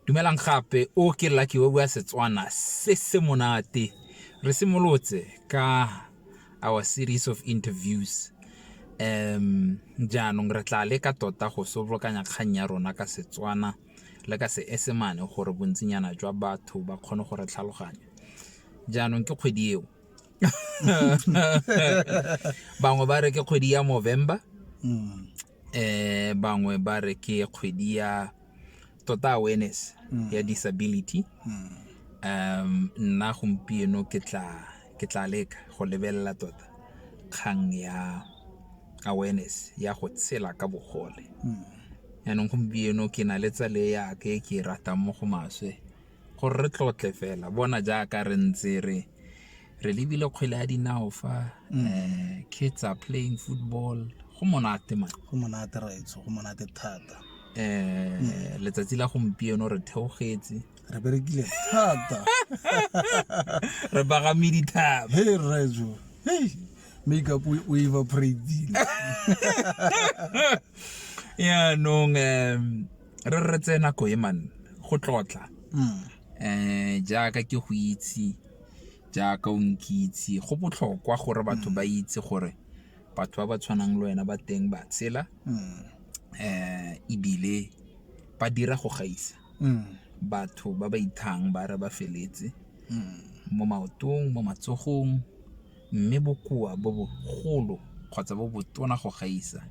Dumelang gape, o ke Lucky o bua Setswana se se monate. Re simolotse ka our series of interviews um jaanong re tla leka tota go sobolokanya kgang ya rona ka Setswana le ka Seesemane gore bontsinyana jwa batho ba kgone go re tlhaloganya. Jaanong ke kgwedi eo bangwe ba re ke kgwedi ya Movember bangwe ba re ke kgwedi ya tota awareness mm. ya disability mm. um nna gompieno ke tla ke tla leka go lebelela tota kgang ya awareness ya go tshela ka bogole mm. yaanong gompieno ke na le tsale yake ke ratang mo go maswe Gore re tlotle fela bona jaaka re ntse re re lebile kgwele ya dinao fa mm. eh, kids are playing football go monate man go monate raitso go monate thata eh mm. letsatsi la gompieno re theogetse re berekile thata re bagame dithaba he rrajo hey makeup o evaporatile yaanong um re re tseye nako e man go tlotla um jaaka ke go itse jaaka o nkitse go botlhokwa gore batho ba itse gore batho ba ba tshwanang le wena ba teng ba tshela um ebile ba dira go gaisa batho ba ba ithang ba re ba feletse mo maotong mo matsogong mme bokoa bo bogolo kgotsa bo botona go gaisa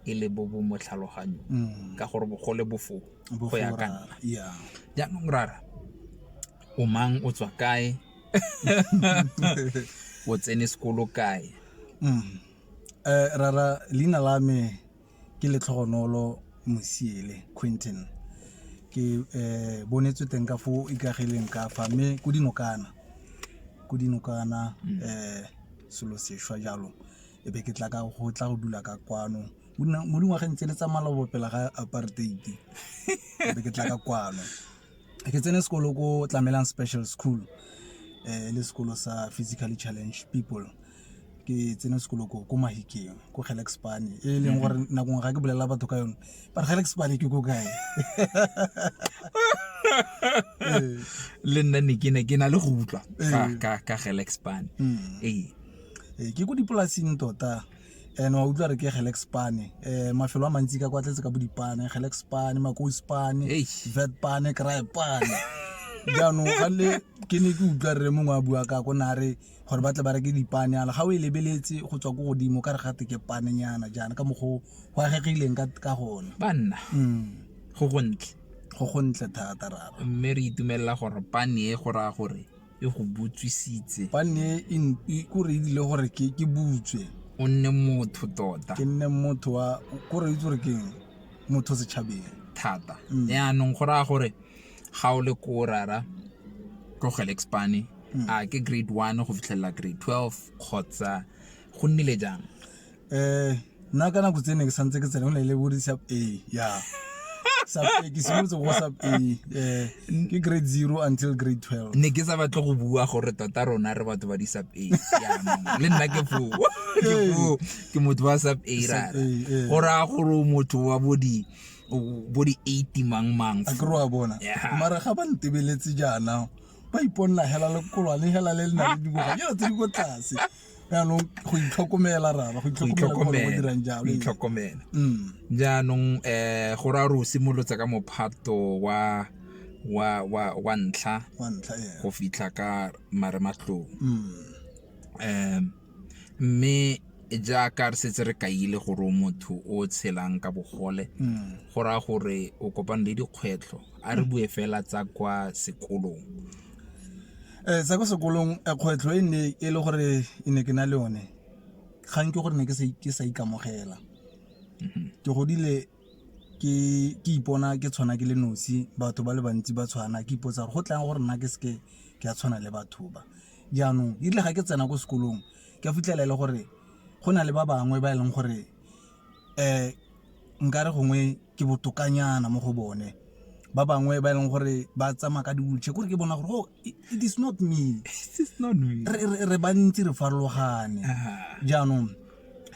e le bo bo mo tlhaloganyong mm. ka gore bogole bo foo go ya ka nna jaanong rara o mang o tswa kae o tsene sekolo kae mm. eh, rara leina la me Ke Letlhogonolo Mosiele Quinton. Ke bonetswe teng ka fo ikagileng ka fa mme ko dinokana, ko dinokana selo sešwa jalo e be ke tla ka go tla go dula ka kwano mo dingwageng tse le tsa maloba pele ga apartheid e be ke tla ka kwano. ke tsene sekolo ko tlamelang special school eh le sekolo sa physically challenge people ke tsene sekolo ko ko mahikeng ko gelexpane e leng gore mhm. nakong ga ke bolelela batho ka yone ba re gelexpane ke ko kae le nna ne ke ne ke na le go utlwa ka ka gelexpane mm. ee eh, ke ko dipolasing tota and wa utlwa re ke gelex pane um mafelo a mantsi ka kwa tletse ka bodipane gelex pane makosi pane vet pane cry pane jaanong gale ke ne ke utlwa rre mongwe a bua ka ko ne a re gore ba tle ba reke dipane ala ga o e lebeletse go tswa ko godimo ka re gate ke panenyana jaana ka mokgwa go agegileng ka gone banna mm. go gontle go gontle thata rara mme re itumelela gore pane e go raya gore e go butswisitse ba ne e n- e- kore e dile gore ke ke butswe o nne motho tota ke nne motho wa kore itse gore ke eng? motho setšhabeng thata Mm. yaanong go raya gore ga o le ko o rara tlogele expane Mm. a ke grade one go fitlhelela grade twelve kgotsa go nnile jang um nna ka nako tse ne ke santse ke tsena go ne le bodi sub a ya sub a ke simolotse go sub a um ke grade zero until grade twelve ne ke sa batle go bua gore tota rona re batho ba di-sub a jaanong. le nna ke foo ke foo ke motho wa sub a rara Sub A, eh. go raya gore o motho wa bo di bo di eighty mang mang a ke re wa bona Yeah. mara ga ba ntebeletse jaana ba iponela hela lekoloa le hela le le na le dingwaga jalo tse di ko tlase jaanong go itlhokomela rara go itlhokomela itlhokomela mm. jaanong um go ra o simolotse ka mophato wa wa wa wa ntlha go fitlha ka marematlong um mm. mme jaaka re setse re kaile gore o motho o tshelang ka bogole mm. go raya gore o kopane le dikgwetlho a re bue fela tsa kwa sekolong um sa ko sekolong kgwetlho e nne e le gore e ne ke na le one kgang ke gore ne ke sa ikamogela ke godile ke ipona ke tshwana ke le nosi batho ba le bantsi ba tshwana ke ipotsa gore go tlang gore nna ke seke ke a tshwana le batho ba jaanong erile ga ke tsena ko sekolong ke a fitlhela e le gore go na le ba bangwe ba e leng gore um nkare gongwe ke botokanyana mo go bone ba bangwe ba e leng gore ba tsamaya ka diwheelchair kore ke bona gore oh, it is not me re bantsi re farologane jaanong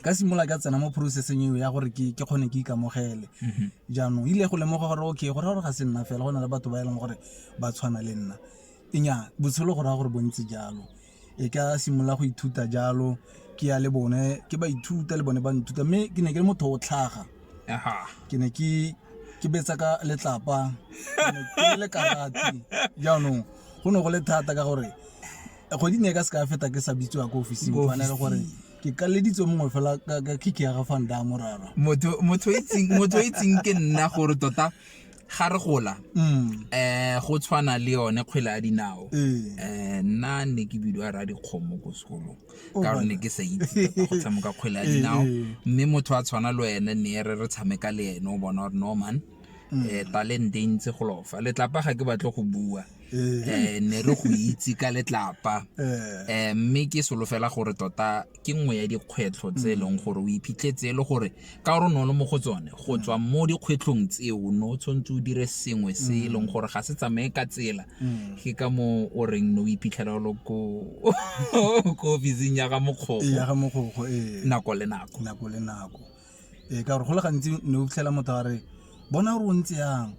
ka simolola ka tsena mo processeng eo ya gore ke kgone ke ikamogele mhm. jaanong ile go lemoga gore okay go raya gore ga se nna fela go na le batho ba e leng gore ba tshwana le nna enya botshelo go raya gore bontsi jalo e ka simolola go ithuta jalo ke ya le bone ke ba ithuta le bone ba nthuta mme ke ne ke le motho o tlhaga ke ne ke ke betsa ka letlapa ke le karate jaanong go ne go le thata ka gore kgwedi ne e ka se ka feta ke sa bitsiwa ko ofising fane ka gore ke kaleditswe mongwe fela ka kiki ya ga fanda morara motho o itseng ke nna gore tota ga re gola um go tshwana le yone kgwele ya dinao um eh, nna ne ke bidiwa ra dikgomo ko sekolong oh, ka gore ne ke sa itse go tshameka kgwele ya dinao mme motho a tshwana le wene ne re re tshameka le ene o bona gore norman um talente e ntse go lofa letlapa ga ke batle go bua um ne re go itse ka letlapa um mme ke solofela gore tota ke nngwe ya dikgwetlho tse e leng gore o iphitlhetse e le gore ka gore o ne o le mo go tsone go tswa mo dikgwetlhong tseo ne o tshwanetse o dire sengwe se e leng gore ga se tsamaye ka tsela ke ka moo o reng ne o iphitlhela o le ko ko ofising ya ga mokgogo nako le nako nako le nako Ee, ka gore go le gantsi ne o fitlhela motho a re bona gore o ntse yang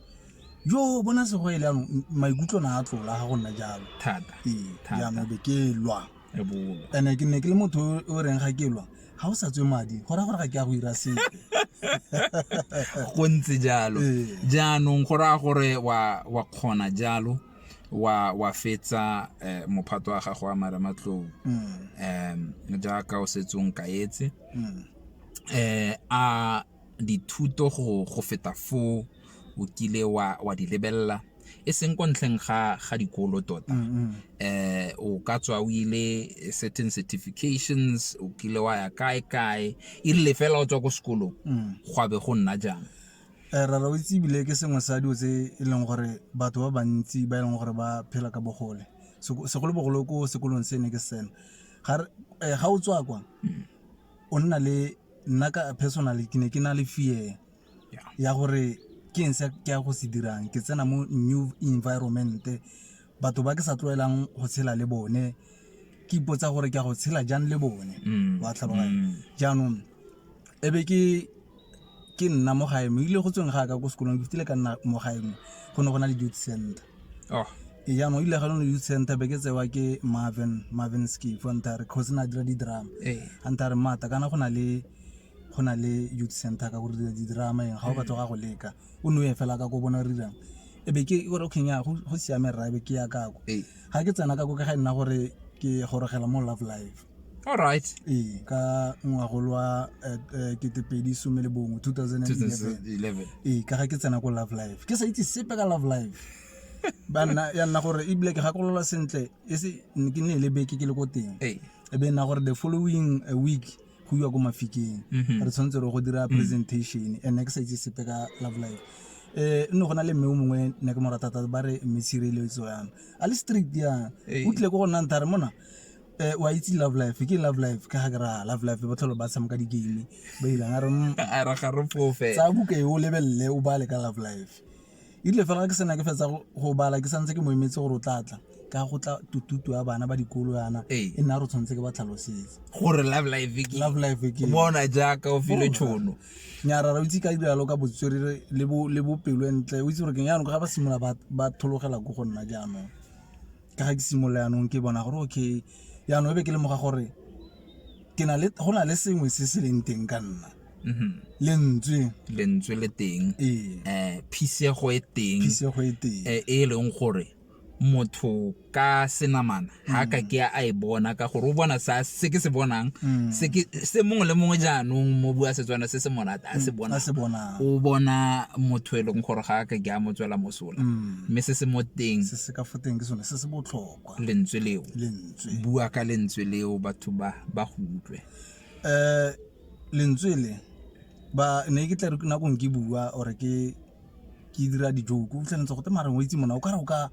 jo bona sego e le yanong m- maikutlo na a tlola ga go nna jalo thata ee Thata. jaanong be ke lwa e bolo and-e ke ne ke le motho o- o reng ga ke lwa ga o sa tswe madi go raya gore ga ke ya go ira sepe go ntse jalo Ee. jaanong go raya gore wa wa kgona jalo wa wa fetsa eh, mophato wa gago wa marematlou Mm, um jaaka o setsong kaetse mm. A dithuto go feta foo o kile wa di lebelela, e seng kwa ntlheng ga dikolo tota? O ka tswa o ile certain certifications, o kile wa ya kae-kae, e rile fela o tswa ko sekolong gwa be go nna jang? Rra o itse ebile ke sengwe sa dilo tse e leng gore batho ba bantsi ba e leng gore ba phela ka bogole, segolobogolo ko sekolong se ne ke se tsena, ga o tswa kwa. o nna le nna ka personally ke ne ke na le fear ya gore ke eng se ke ya go se dirang ke tsena mo new environment batho ba ke sa tlwaelang go tshela le bone ke ipotsa gore ke ya go tshela jang le bone wa tlhaloganya jaanong e be ke ke nna mo gae mo ile go tsweng ga ka ko sekolong ke fitile ka nna mo gae mo go ne go na le youth center oh. ee, jaanong ile ga lone youth center be ke tsewa ke marvin marvin skif a ntha re kgosi na dira di-drama ee. a ntha re mata kana go na le go na le youth center ka gore dira di-drama eng ga o batla ga go leka o ne o e fela ka ko bona rirang e be ke gore okay nya go siame rra e be ke ya kako ga ke tsena kako ke ga e nna gore ke gorogela mo love life alright ee ka ngwagolo wa eh, eh, ketepedi some le bongwe 2011 ee ka ga ke tsena ko love life ke sa itse sepe ka love life ba nna ya nna gore ebile ke gakolola sentle e se ke ne e le beke ke le ko teng Ee. e be nna gore the following eh, week go iwa ko mafikeng Mhm. re tshwanetse re go dira presentation and ne ke sa itse sepe ka love life eh nne go na le mme o mongwe ne ke mo rata thata ba re mme tshireletso yana a le strict yana Ee. o tlile ko go nna nthare mona Eh, wa itse love life ke love life ka ga ke ra love life ba tlholo ba tshameka di-game ba ilang a re mm, a ra ga re fofe tsaya buka e o lebelele o bale ka love life erile fela ke sena ke fetsa go- go bala ke santse ke mo emetse gore o tlatla ka go tla tututu ya bana ba dikolo yana Ee. e nna re tshwanetse ke ba tlhalosetse gore love life ke love life ke bona jaaka o file tšhono nyara ra o itse ka diralo ka botswerere le bo- le bopelo e ntle o itse gore ke yanong ga ba simolola ba- ba thologela ko go nna jaanong ka ga ke simolola yanong ke bona gore okay yanong e be ke lemoga gore go na le sengwe se se leng teng ka nna mm-hmm. lentswe lentswe le teng ee. eh phisego e teng phisego e teng eh, e leng gore motho ka senamana ha ka mm. ke a e bona ka gore o bona sa se ke se bonang mm. se ke se mongwe le mongwe jaanong mo bua setswana se se monate a se mm, bona o bona motho e leng gore ga ka ke a motswela moso gola mm. mme se se mo teng se se ka fo teng ke sone se se botlhokwa lentswe leo lentswe bua ka lentswe leo batho ba ba go utlwe um lentswe le ba ne ke tla re nakong ke bua ore ke ke dira dijoko o fitlhelentse gote mareng o itse mona o ka re o ka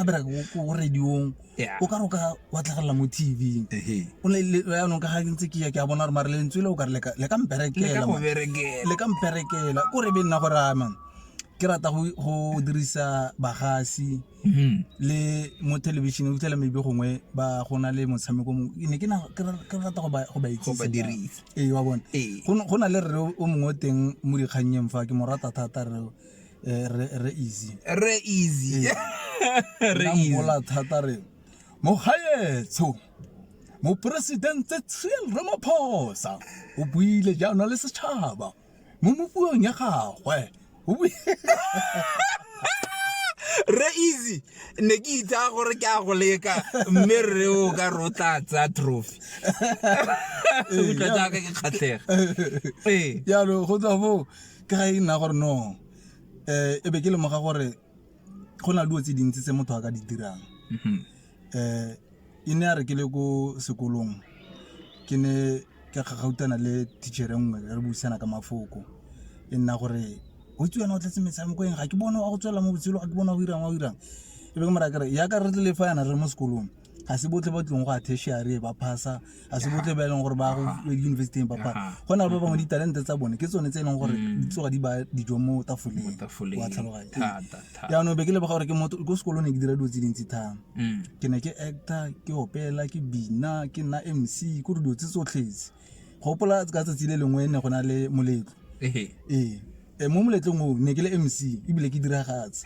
bereka ko radiong o ka re o ka watlegelela mo tv yanong ka ga ntse ke ya ke a bona gore mare lentswe le o ka re le ka mperekela ko re be nna go ramang ke rata go go dirisa bagasi Mhm. le mo thelebišeneng o fitlhela maybe gongwe ba go na le motshameko mongwe Ke ne ke na- ke ra- ke rata go ba go ba go itsise ba ka- dirisa ee wa bone ee go ne- go na le rre o mongwe o teng mo dikgannyeng fa ke mo rata thata re eh, re- re easy re easy re Nna easy mmola thata re mogaetsho moporesidente cyril ramaphosa o buile jaana le setšhaba mo mopuong ya gagwe re easy ne ke itsa gore ke a go leka mme re o ka re o tla tsaya trophy utlwa jaaka ke kgatlhega ee jalo go tswa foo ka ga e nna gore no um e be ke lemoga gore go na le dilo tse dintsi tse motho a ka di dirang e ne ya re ke le ko sekolong ke ne ka kgakgautshwana le teacher-e nngwe re buisana ka mafoko, e nna gore o itse wena o tletse metshameko eng, ga ke bone wa go tswelela mo botshelong, ga ke bone wa go 'irang, wa go 'irang. E be ke mo raya ke re yaka re tlile fa yana re le mo sekolong, ga se botlhe ba tlileng go ya tertiary ba pass-a. a se botle ba e leng gore ba go yunibesithing ba phala go na le ba bangwe ditalente tsa bone ke tsone tse e leng gore mm. di tsoga di ba dijo mo tafoleng wa tlhaloganya jaanong be ke lebega gore ke motho ko sekolong ne ke dira dilo tse dintsi thang mm. ke ne ke actor ke opela ke bina ke nna m c ko dilo tse tsotlhetse go gopola ka tsatsi le lengwe ne go na le moletlo ee eh, mo moletlong oo ne ke le m c ebile ke diragatse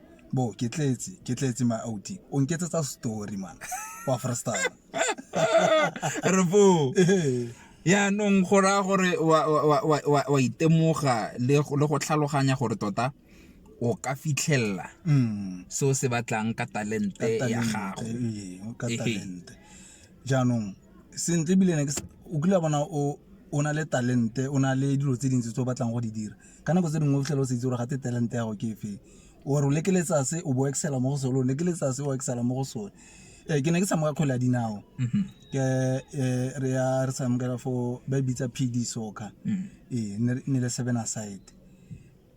bo ke tletse ke tletse my outi o nketsetsa story man wa freestyle re bo yaanong go raya gore wa itemoga le go tlhaloganya gore tota o ka fitlhelela mm. se o se batlang ka talente ya gago jaanong sentle ebile ne o kile bona o na le talente o na le dilo tse dintsi tse o batlang go di dira Ka nako tse dingwe o fitlhela o sa itse gore gate talent ya gago ke efeng, or o lekeletsa se o bo o excel-a mo go sone, o lekeletsa se o excel-a mo go sone. Ee, ke ne ke tshameka kgwele ya dinao ke eh, re ya re tshamekela for ba e bitsa pd soccer ee ne re- ne le seven aside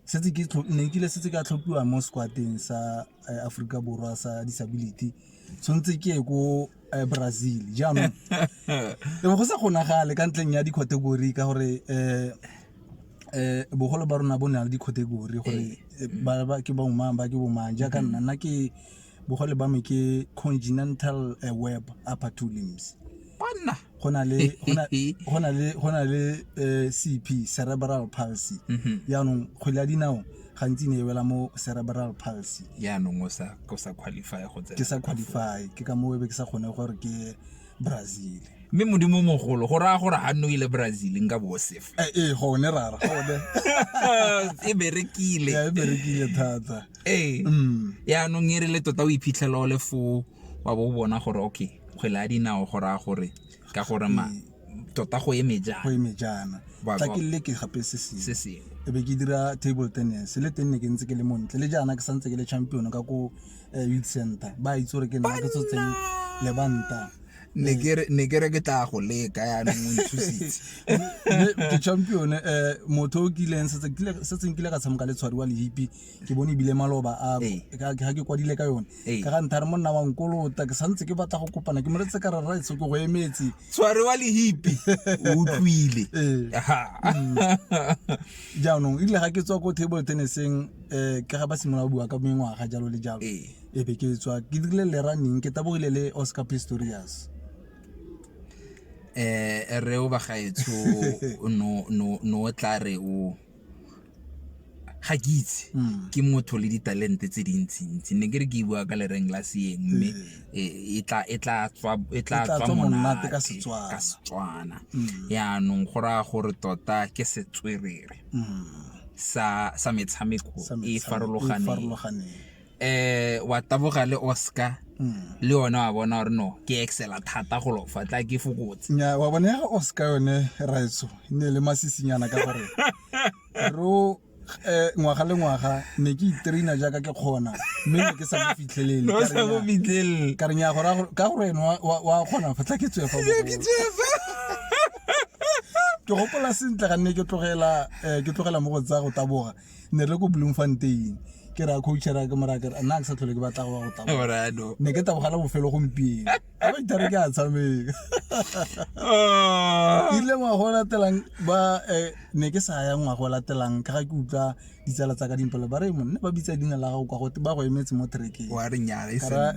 setse ke tlho- ne nkile setse ka tlhophiwa mo squateng sa eh, aforika borwa sa disability tshwanetse ke ye ko eh, brazil jaanong e go sa kgonagale ka ntleng ya di-category ka gore um um bogolo ba rona bo ne le di-category gore eh, ba ke bomang ba ke bomang jaaka nna nna ke bogole ba me ke continental eh, web upper two limbs Banna. go na le go na- go na le go na le eh, cp cerebral palsy Mhm. jaanong kgwele ya dinao gantsi ne e wela mo cerebral palsy yaanong o sa o sa qualify go tsena ke sa qualify ke ka moo e be ke sa kgone gore ke ye brazil mme modimo o mogolo go raya gore ga nne o ile brazil nka bo o sefa Eh, ee gone rara gone e berekile Ya, e berekile thata ee Mm. yaanong e re le tota o iphitlhela o le foo wa bo o bona gore okay kgwele ya dinao go raya gore ka gore ma tota go eme jang go eme jaana Ba- tla ba- ke le ke gape se se sengwe sengwe e be ke dira table tennis le teng ne ke ntse ke le montle le jaana ke santse ke le champion ka ko eh, youth center ba itse gore ke nna ke tsotseng lebanta ne ke re- ne ke re ke tla go leka yaanong o nthusitse Mme ke champion eh, motho o kileng setse kile- setseng kile ka tshameka le tshwariwa le hipi ke bone ebile maloba a ga ke kwadile ka yone ka ga nthare monna wa nkolota ke santse ke batla go kopana ke moletse ka rara etso ke go emetse tshware wa lehipi o utlwile mm. jaanong ebile ga ke tswa ko table tenniseng um ke ga ba simolola bua ka mengwaga jalo le jalo e be ke tswa ke dirile le running ke tabogile le oscar pistorius um eh, reo bagaetsho no tla re o ga ke itse hmm. ke motho le ditalente tse dintsintsi ne ke re ke bua ka lereng la seeng mme hmm. e, e, e tla tswa monate ka setswana hmm. yaanong go raya gore tota ke setswerere sa metshameko e farologaneng um wa taboga le oscar hmm. le yone wa bona gore no ke excela thata go lofa tla ke fokotse nya wa bona ga oscar yone raetso e ne le masisinyana ka gore ro um ngwaga le ngwaga ne ke itraina jaaka ke kgona mme ne ke sa mo fitlhelele ka re nya ka gore ene wa kgona fa tla ke tswefa ke gopola sentle ga nne ke tlogela eh, ke tlogela mo go tsaya go taboga ne re ko bloemfontein ke ra coachera ke mora ke nna ke sa tlhole ke batla go go taboga ne ke tabogela bofelo gompieno a ba ithare ke a tshameka ah. ile ngwago o latelang ba eh, ne ke sa ya ngwago o latelang ka ga ke utlwa ditsala tsa ka dimpelo ba re monne ba bitsa dina la gago kwa gote ba go emetse mo trekeng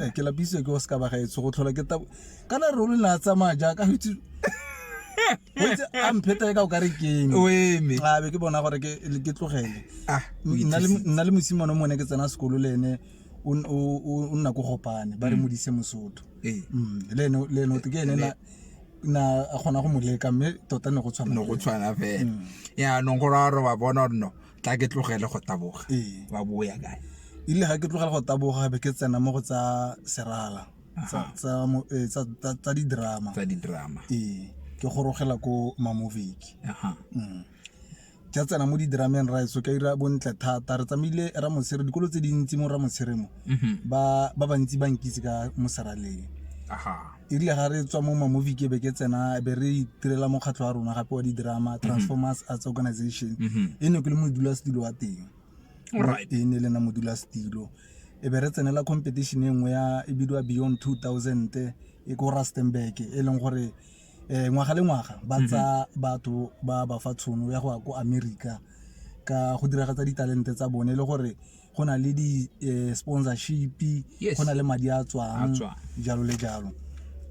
eh, ke lapisitswe ke o se ka ba gaetsho go tlhola ke kana ruri na tsamaya jaaka go itse go itse a mphetae ka o kare kene o eme a be ke bona gore ke ke tlogele ah o nna le ithusitse. nna le mosimane o mone ke tsena sekolo le ene o n- o- o o nna ko gopane ba re modise mosotho Ee. Mm, le ene le ene o te ke ene na na a kgona go mo leka mme tota ne go tshwana no go le- tshwana fela Mm. yaanong gore a re wa bona gore no tla ke tlogele go taboga Ee. wa boya kae ile ga ke tlogela go taboga be ke tsena mo go tsa serala tsa di-drama tsa di-drama ee ke gorogela ko mamoviki mm. ke a tsena mo di-drameng ra eso ka ira bontle thata re tsamaile ra mosere dikolo tse dintsi mo ra mosere mo mm-hmm. ba bantsi ba nkitse ka moseraleng erile ga re tswa mo mamovie ke be ke tsena be re itirela mokgatlho wa rona gape wa di-drama mm-hmm. transformers arts organization mm-hmm. e ne ke le modulasetulo wa teng e ne le na modula setilo e be re tsenela competition e nngwe ya e bidiwa beyond 2000 e ko rustenburg e leng gore um ngwaga le ngwaga ba mhm. tsa batho ba ba fa tshono ya go ya ko america ka go diragatsa ditalente tsa bone e le gore go na le di-sponsorship eh, yes. go na le madi a tswang jalo le jalo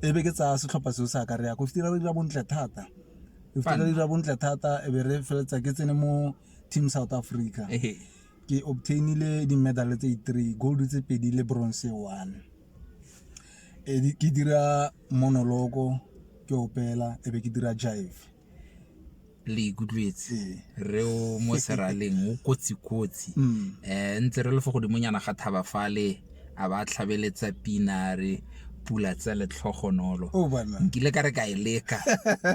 e be ke tsaya setlhopha seo sa ka re ya ko fitira re dira bontle thata re fitira re dira bontle thata e be re feleletsa ke tsene mo Team South Africa. Ehe. Ke obtainile di-medal tse three, gold tse pedi le bronze one. E di- ke dira monoloko ke opela e be ke dira jive. le ikutlwetse Ee. re o mo seraleng o kotsi-kotsi Mm. um ntse re le fo godimonyana ga thaba fale a ba tlhabeletsa pina re pula tsa letlhogonolo oh, nkile ka re ka e leka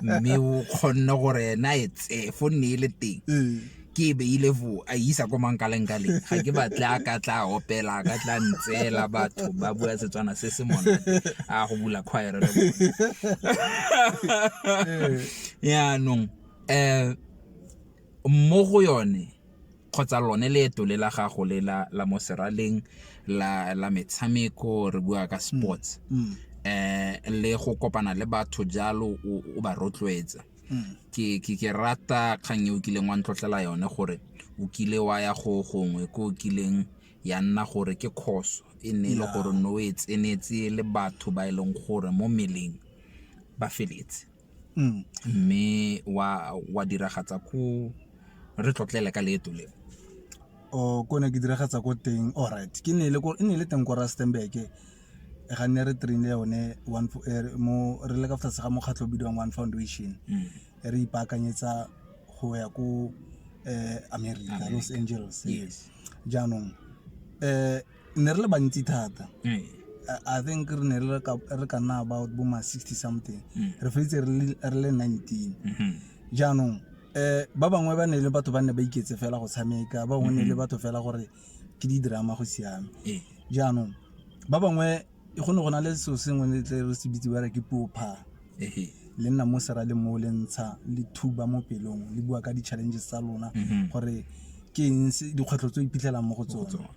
mme o kgonne gore ena e tsee fo nne e le teng eh. ke e beile fo a isa ko mankaleng ka leng ga ke batle a ka tla opela a ka tla ntseela batho ba bua setswana se se monate a go bula kgwaere le bone eh. yaanong um mo go yone kgotsa lone leeto le la gago le la, la mo seraleng la, la metshameko re bua ka sports mm. eh le go kopana le batho jalo o, o ba rotloetsa mm. ke, ke, ke rata kgang e o kileng wa ntlotlela yone gore o kile wa ya go gongwe ko o kileng ya nna gore ke khoso e ne e le gore no e tsenetse le batho ba e leng gore mo meleng ba feletse Mme wa diragatsa ko, re tlotlele ka leeto le. O, ko ne ke diragatsa ko teng, alright, e ne e le teng ko Rustenburg, ga ne re train-a yone re le ka fa tlase ga mokgatlho o bidiwang One Foundation, re ipaakanyetsa go ya ko America, Los Angeles. Jaanong . ne re le bantsi thata eh. i think re ne re ka nna about bo ma 60 something mm. re feditse re le 19 mm-hmm. jaanong um ba bangwe ba ne le batho ba ne ba iketse fela go tshameka ba bangwe ne le mm-hmm. batho fela gore ke di-drama go siame eh. jaanong ba bangwe go ne go na le selo sengwe le tle re se bitse ba re ke puo phaa le nna mo sera le mo le ntsha le thuba mo pelong le bua ka di-challenges tsa lona mhm. gore ke eng dikgwetlho tse o iphitlhelang mo go tsone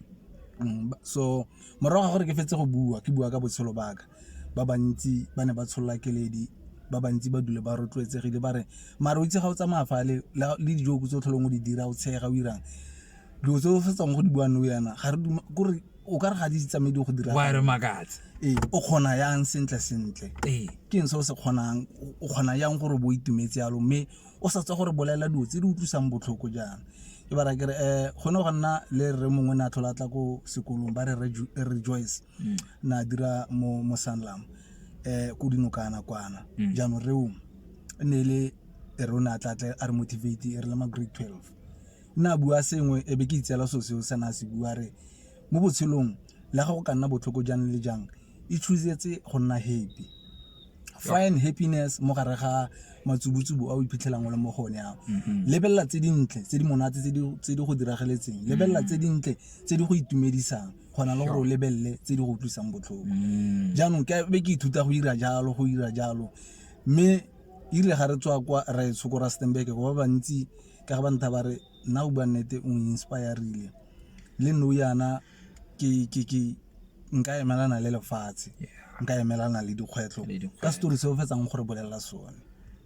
mm, so morago ga gore ke fetse go bua ke bua ka botshelo baka ba bantsi ba ne ba tsholola keledi ba bantsi ba dule ba rotloetsegile ba re mare o itse ga o tsamaya fa le dijo tse o tlholong o di dira o tshega o irang dilo tse o fetsang go di buang le yana ga re kore o ka re ga di tsamaye di go dira wa re makatse ee o kgona yang sentle sentle ee ke ntse o se kgonang o kgona yang gore bo itumetse yalo mme o sa tswa gore bolela dilo tse di utlwisang botlhoko jang ke bara kere um eh, gone go nna le re mongwe ne a tlhola tla ko sekolong ba re rejoice mm. na dira mo mo sanlam um eh, ko dinokana kwana mm. jaanong reo ne le re o ne a tla tle a re motivate e re le ma grade twelve nna a bua sengwe e be ke itseela so seo sena a se bua re mo botshelong le ga go ka nna botlhoko jang le jang e choosetse go nna happy find happiness mo gare ga matsubutsubu a o iphitlhelang o le mo gone ao mm-hmm. lebelela tse dintle tse di monate tse di go diragaletseng mm-hmm. lebelela tse dintle tse di go itumedisang gona le gore o lebelele tse di go utlwisang botlhoko mm. jaanong ke be ke ithuta go ira jalo go ira jalo mme irile ga re tswa kwa ra e tshoko ra stenbeke go ba bantsi ka ba ntha ba re nna o bua nnete o inspire-rile le nou yana nka emelana le lefatshe nka emelana le dikgwetlho ka setori se o fetsang gore bolelela sone.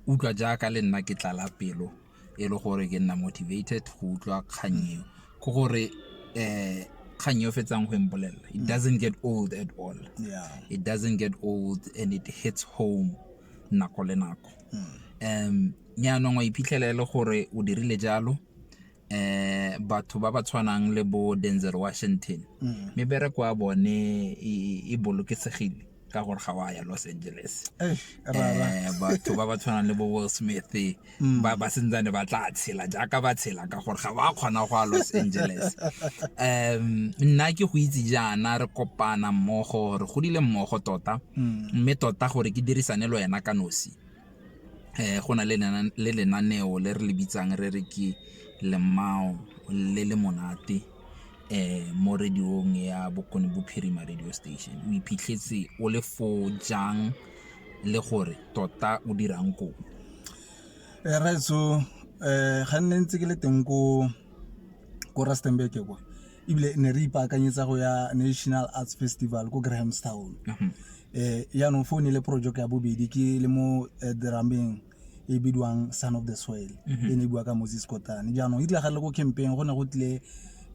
Utlwa jaaka le nna ke tlala pelo e le gore ke nna motivated go utlwa kgang eo ke gore um kgang e o fetsang go e mpolelela it doesn't get old at all, it doesn't get old and it hits home nako le nako. um jaanong wa iphitlhela e le gore o dirile jalo eh batho ba ba tshwanang le bo Denzel Washington mm. mebereko ya bone e bolokesegile ka gore ga wa ya Los Angeles eh, eh batho ba ba tshwanang le bo Will Smith mm. ba ba sentsane ba tla tshela jaaka ba tshela gore ga wa kgona go ya los angeles um nna ke go itse jaana re kopana mmogo re godile mmogo tota mm. mme tota gore ke dirisane le wena ka nosi um go na le lenaneo le re le bitsang re re ke lemao le le monate um mo radiong ya bokone bophirima radio station o iphitlhetse o le fo jang le gore tota o dirang kopo Rraetsho ga nne ntse ke le teng ko Rustenburg kwa ebile ne re ipaakanyetsa go ya National Arts Festival ko Grahamstown jaanong foo ne le project ya bobedi ke le mo drameng e bidiwang son of the soil e ne e bua ka Moses Kotane jaanong e tlagale ko campaign go ne go tlile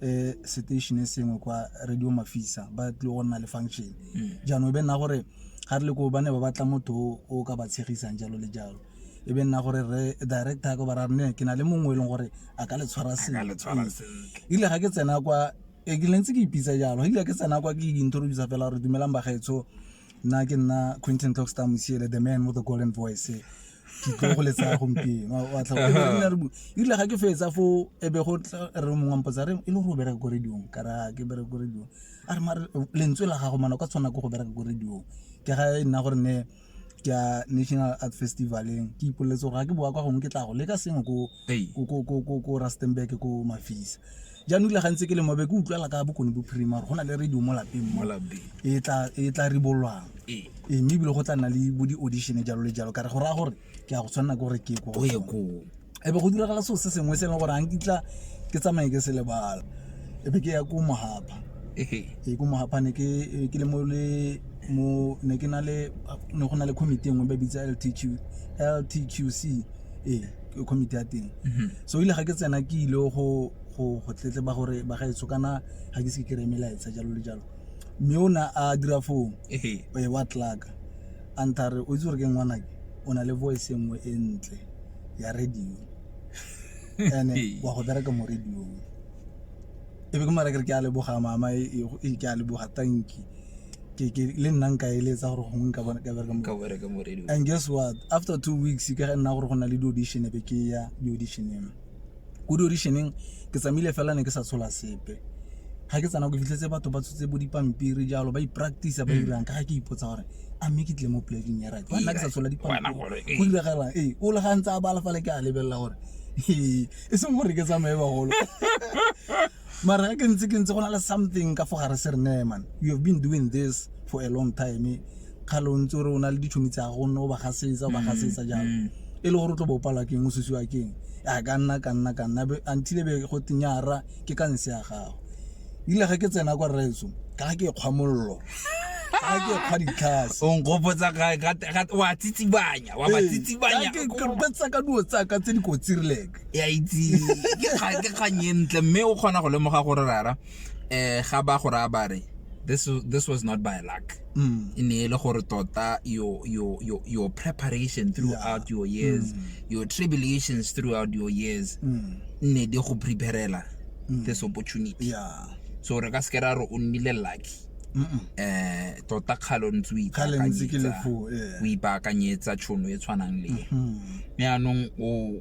um station e sengwe kwa radio mafisa ba tlile go nna le function jaanong e be nna gore ga re le koo ba ne ba batla motho o ka ba tshegisang jalo le jalo e be nna gore re director ko bara ne ke na le mongwe e leng gore a ka le tshwara sentle ile ga ke tsena kwa e ke lentse ke ipitsa jalo ile ke tsena kwa ke introduce fela gore dumelang bagaetsho nna ke nna quentin toxta mosiele the man with the golden voice ke tlo go letsa gompieno ile ga ke fetsa fo e be go re mongwe mpotsa re e le gore o bereka ko radiong ka ra ke bereka ko radiong a re mare lentswe la gago mana ka tshwana ko go bereka ko radiong ke ga e nna gore ne ke ya national art festivaleng ke ipoleletse gore ga ke boa kwa gongwe ke tla go leka sengwe ko rustenburg ko mafisa jaanong ile gantse ke le mobe ke utlwala ka bokone bophirima go na le radio mo lapeng mo e tla e ribolwang ee mme ebile go tla nna le bo di-audition jalo le jalo ka re go raya gore ke ya go tshwanela ke gore ke ko e be go diragala seo se sengwe se e leng gore a nkitla ke tsamaye ke se lebala e be ke ya ko mohapa ee ko mohapa ne ke le mo le mo ne ke na le ne go na le committee engwe ba bitsa ltq ltqc ee ke committee ya teng mhm. so ile ga ke tsena ke ile go go go tletleba gore ba ga etsho kana ga ke se ke kry melaetsa jalo le jalo mme o na a dira foo wa tlaka a ntha re o itse gore ke ngwanake o na le voice e nngwe e ntle ya radio ene wa go bereka mo radiong e be ke mara kere ke a leboga mama e, e, e ke a leboga tanki ke ke le nna nka eletsa gore gongwe nka bona ka bereka mo ka bereka mo radio and guess what after two weeks ke ga nna gore go na le di-audition e be ke ya di-audition eno ko di audition-eng ke tsamaile fela ne ke sa tshola sepe ga ke tsena ke fitlhetse batho ba tshotse bo dipampiri jalo ba ipractice ba dirang ka ga ke ipotsa gore a mme ke tle mo polekeng ya right nna ke sa tshola dipampiri go diragalang ee o le ga ntse a bala fale ke a lebelela gore ee e seng gore ke tsamaye bagolo mara ke ntse ke ntse go na le something ka fo gare se re ne man you have been doing this for a long time ga lo ntse o re o na le ditšhomi tsa go nne o ba gasetsa o ba gasetsa jalo mm. e le gore o tlo bo palwa keng o susiwa keng a ka nna ka nna ka nna until be go tenyara ke ka nse ya gago ile ga ke tsena kwa rraetso ka ga ke kgwamololo ga ke kgwa ditlhase o nkgopotsa wa tsitsibanya wa ba tsitsibanya ke kgopetsa ka duo tsaka tse dikotsi rileke ya itse ke kgang e ntle mme o kgona go lemoga gore rara eh ga ba go raya ba re this was- this was not by luck Mm. e ne e le gore tota your your your your preparation throughout your years your tribulations throughout your years Mm. ne di go preparela this opportunity Yeah. so re ka se ke ra re o nnile lucky Mm-mm. eh tota kgalo ntse o Kgale ntse ke le ipaakanyetsa- foo, yeah. o ipaakanyetsa tšhono e tshwanang le e. Mm. mme anong o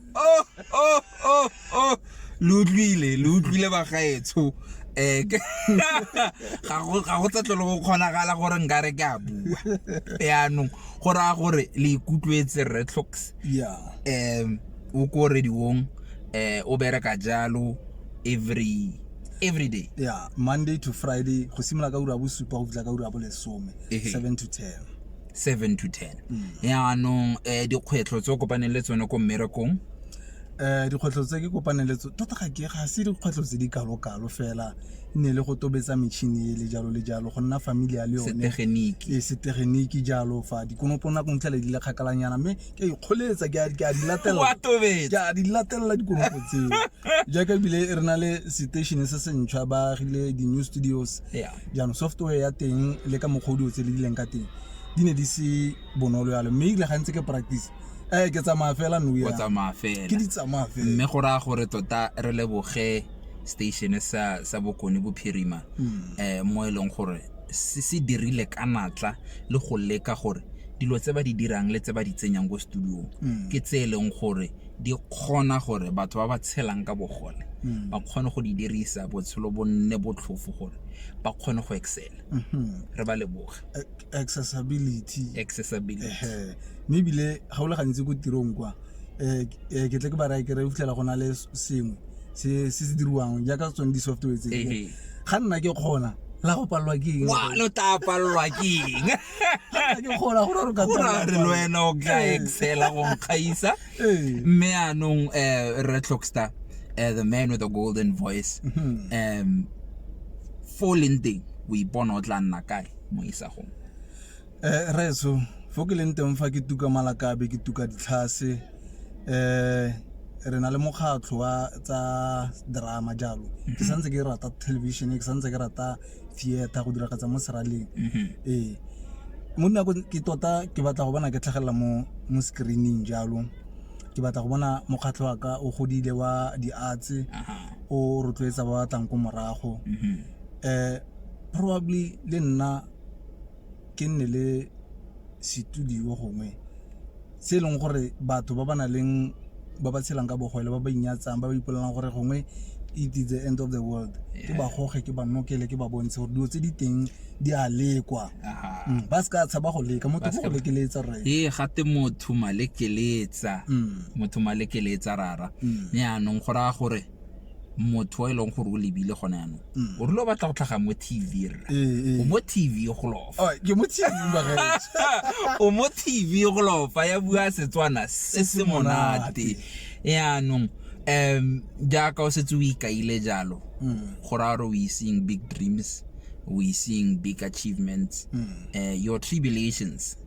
oh oh oh oh lo utlwile lo utlwile bagaetsho um ga go tsetlo le go kgonagala gore nka re ke a bua yaanong go raya gore le ikutlwetse retlocks um o ko rediong um o bereka jalo every every day yeah monday to friday go simolola ka ura bosupa go fitlha ka ura bolesome seven to ten seven to ten yaanong um dikgwetlho tse o kopaneng le tsone ko mmerekong um dikgwetlho tse ke kopaneng le tso tota ga ke ga se dikgwetlho tse di kalo-kalo fela e ne le go tobetsa metšhini e le jalo le jalo go nna familia le yone setegeniki e setegeniki jalo fa dikonopo nako ntlhele di le kgakalanyana mme ke a ikgoletsa ke a- ke a di latelela wa tobetsa ke a di latelela dikonopo tseo jaaka ebile re na le station se sentšhwa ba agile di-new studios ya jaanong software ya teng le ka mokgwa o di o tse le dileng ka teng di ne di se bonolo yalo mme ile gantse ke practice eh ke tsamaya fela no o ya tsamaya fela ke di tsamaya fela mme go raya gore tota re leboge station sa sa bokone bophirima Mm. eh mo e leng gore se se dirile ka natla le go leka gore dilo tse ba di dirang le tse ba di tsenyang ko studiong Mm. ke tse e leng gore di kgona gore batho ba ba tshelang ka bogole hmm. ba kgone go di dirisa botshelo bo nne botlhofo gore ba kgone go excela hmm. re ba leboge accessibility accessibility mme ebile ga o le gantsi ko tirong kwa um ke tle ke ba raya kere o fitlhela go na le sengwe se se diriwang jaaka tsone di-software tse ga nna ke kgona la go palelwa ke eng lo tla palelwa ke eng Ke kgola gore re ka o ra re le wena o tla Ee. excela go nkgaisa Ee. mme anong um re clockstar um the man with the golden voice Mhm. um fo o leng teng o ipona o tla nna kae mo isagong Eh, reso fo ke leng teng fa ke tuka malakabe ke tuka ditlhase eh re na le mokgatlho wa tsa drama jalo ke santse ke rata television ke santse ke rata theater go diragatsa mo seraleng mm-hmm. ee mo nako ke tota ke batla go bona ke tlhagelela mo mo screening jalo ke batla go bona mokgatlho wa ka o godile wa di-arts o rotloetsa ba batlang ko morago um probably le nna ke nne le studio gongwe se e leng gore batho ba ba nang le ba ba tshelang ka bogole ba ba inyatsang ba ba ipolelang gore gongwe it is the end of the world ke ba goge ke ba nokele ke ba bontshe gore dilo tse di teng di a lekwa mm, ba se ka tshaba go leka motho go lekeletsa rre ee gate motho malekeletsa mm. motho malekeletsa rara mm. yaanong go raya gore motho e leng gore o lebile gone yanong mm. o rile o batla go tlhaga mo tv rra eh, eh. o mo tv go lofa oh, o mo tv go lofa ya bua setswana se se monate yaanong um jaaka o setse o ikaile jalo mm. go raya gore o iseng big dreams o iseng big achievements mm. eh, your tribulations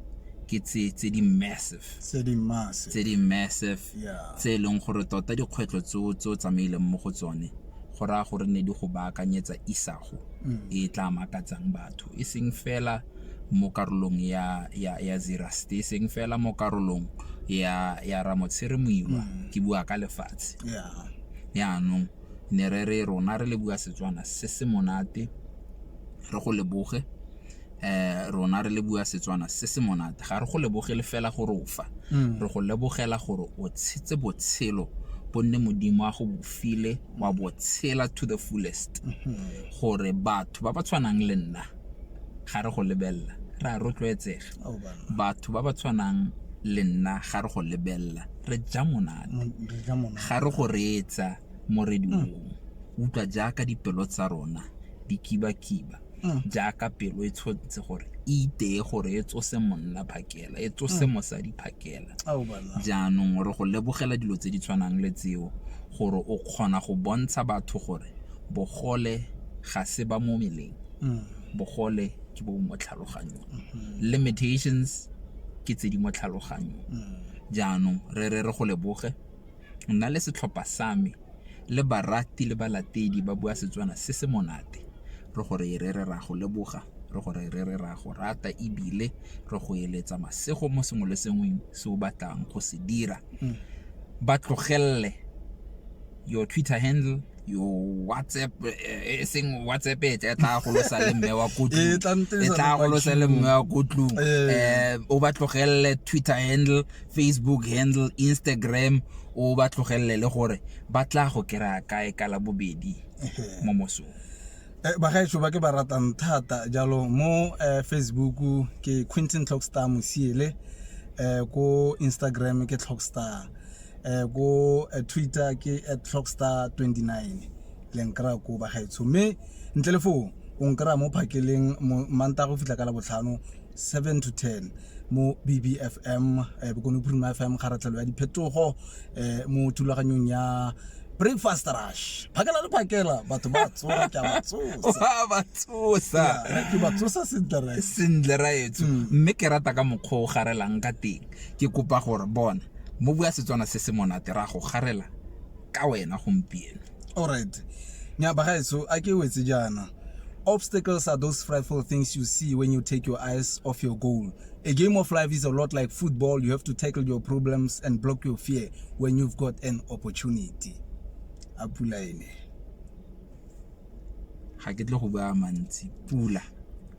ke tse tse di massive tse di massive tse di massive Yeah. tse e leng gore tota dikgwetlho tseo tse o tsamaileng mo go tsone go raya gore ne di go baakanyetsa isago e tla makatsang batho e seng fela mo karolong ya ya ya zeraste e seng fela mo karolong ya ya ramotshire moilwa ke bua ka lefatshe yeah yaanong ne re re rona re le bua setswana se se monate re go leboge rona re le bua Setswana se se monate ga re go lebogele fela gore o fa re go lebogela gore o tshetse botshelo gonne modimo a go bofile wa botshela to the fullest gore batho ba ba tshwanang le nna ga re go lebelela re a rotloetsega Oh, banna. batho ba ba tshwanang le nna ga re go lebelela re ja monate Mo- re ja monate. ga re go reetsa mo rediong utlwa jaaka dipelo tsa rona di kibakiba jaaka pelo e tshotse gore e iteye gore e tsose monna phakela e tsose mosadi phakela jaanong re go lebogela dilo tse di tshwanang le tseo gore o kgona go bontsha batho gore bogole ga se ba mo meleng bogole ke bo mo tlhaloganyong limitations ke tse di mo tlhaloganyong jaanong re re re go leboge nna le setlhopha sa me le barati le balatedi ba bua Setswana se se monate. Re go re re re re a go leboga, re go re re re a go rata e bile re go eletsa masego mo sengwe le sengwe se o batlang go se dira. Ba tlogelele, your Twitter handle yo whatsapp eh, e seng whatsapp e tla tla go losa le mme wa kotlu e tla go losa le mme wa kotlu eh o ba tlogelele twitter handle facebook handle instagram o ba tlogelele le gore ba tla go kera kae ka la bobedi mo mosong eh, bagaetso ba ke ba ratang thata jalo mo eh, facebook ke quinton clockstar mosiele eh, ko instagram ke clockstar eh go eh, twitter ke at clockstar 29 le nkra ko bagaetsho mme ntle le foo o nkra mo phakeleng manta go fitlha ka la botlhano 7 to 10 mo bbfm eh, bokone bophirima fm kgaratlhelo ya diphetogo eh, mo thulaganyong ya breakfast rush phakela le phakela batho ba tsoa ke ba tsosa ba tsosa ke ba tsosa sentle ra sentle ra etso mme ke rata ka mokgwa o garelang ka teng ke kopa gore bona Mo bua Setswana se se monate ra go garela ka wena gompieno. Alright. Nya bagaetso a ke wetse jaana. Obstacles are those frightful things you see when you take your eyes off your goal. A game of life is a lot like football. You have to tackle your problems and block your fear when you've got an opportunity. A pula ene. Ga ke tle go bua mantsi. Pula.